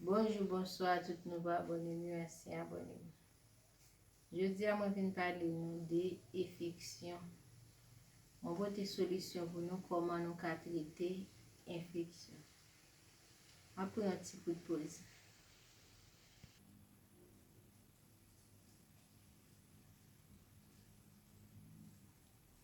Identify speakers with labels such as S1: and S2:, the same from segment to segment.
S1: Bonjou bonswa a tout nouvo abònem yo ansyen abònem jodi a mwen vin pale nou de efeksyon mwen pote solisyon pou nou kòman nou ka trete enfeksyon map pran yon ti kout poz.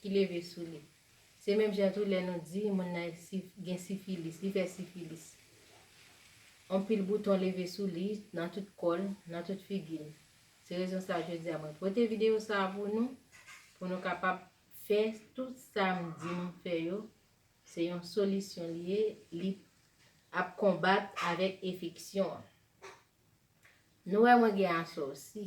S1: ki leve sou li. Se menm jan tou lè nou di moun nan gen sifilis, li fè sifilis. Anpil bouton leve sou li, nan tout kò l, nan tout figi l. Se rezon sa jodi a mwen pote videyo sa a pou nou, pou nou kapab fè tout sa m di nou fè yo, se yon solisyon li ye, li ap konbat avèk efeksyon an. Nou wè mwen gen asòsi.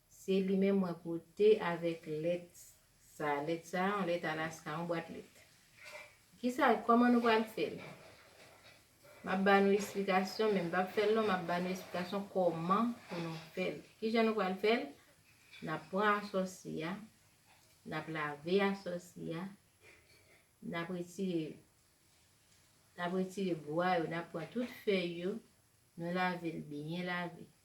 S1: Se li menm mwen pote avèk lèt sa. Lèt sa a, yon lèt Alaska, yon bwat lèt. Ki sa, kòman nou pral fè l? M ap ba nou esplikasyon, men m pa p fè l long, m ap ba nou esplikasyon kòman pou nou fè l. Ki jan nou pral fè l? N ap pran asòsi a, n ap lave asòsi a, n ap retire, n ap retire bwa yo, n ap pran tout fèy yo, nou lave l byen lave.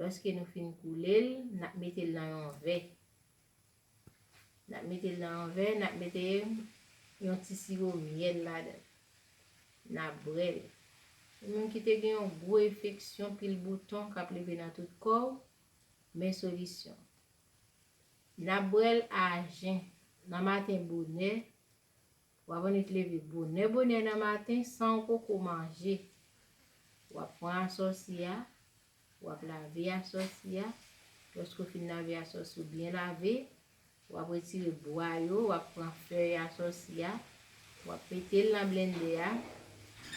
S1: Lòske nou fin koule l, n ap mete l nan yon vè. N ap mete l nan yon vè, n ap mete yon ti siwo myèl ladan l. N ap bwè l. Ou menm ki te gen yon gwo enfeksyon, pil bouton k ap leve nan tout kò w, men solisyon. N ap bwè l ajen, nan maten bonè, W ap annik leve bonè bonè nan maten san w poko manje. W ap pran asòsi a, w ap lave asòsi a, lòske w fin lave asòsi w byen lave, w ap retire bwa yo, w ap pran fèy asòsi a, w ap mete l nan blennde a,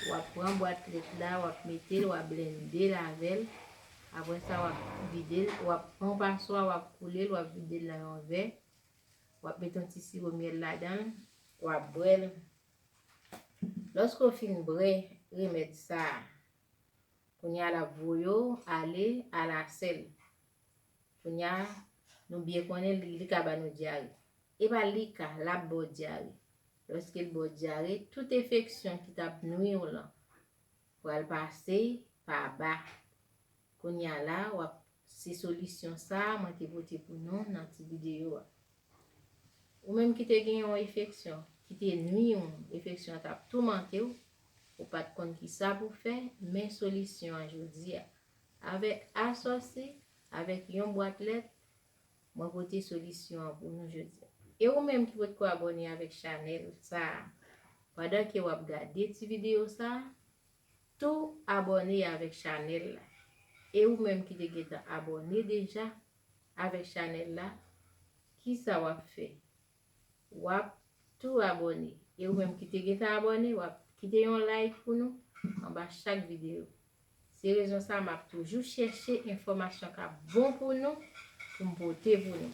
S1: w ap pran bwat lèt la, w ap mete l, w ap blennde l avè l, apre sa w ap vide l, w ap pran yon paswa, w ap koule l, w ap vide l nan yon vè, Wap met yon ti siwo myèl ladan l, wap bwè l. Lòske w fin bwè remèd sa, kounye a lap voye w ale alasèl. Kounye a, nou byen konnen li ka ba nou dyare. E pa li ka, lap ba w dyare. Lòske l ba w dyare, tout enfeksyon ki tap nwi w lan, Pral pase pa ba. Kounya la wap se solisyon sa mwen te pote pou nou nan ti videyo a. Ou menm ki te gen yon efeksyon ki te nwi ou, efeksyon an tap toumante ou, ou pat konn ki sa pou fè, men solisyon an jodi a. Avèk asòsi, avèk yon bwat lèt, Mwen pote solisyon an pou nou jodi. E ou menm ki potko abone avek chanel sa pandan ke wap gade ti video sa tou abone avek chanel la e ou menm ki te gentan abone deja avek chanel la kisa wap fè wap tou abòne e ou menm ki te gentan abòne wap kite yon like pou nou anba chak videyo se rezon sa map toujou chèche enfòmasyon kap bon pou nou poum pote pou nou.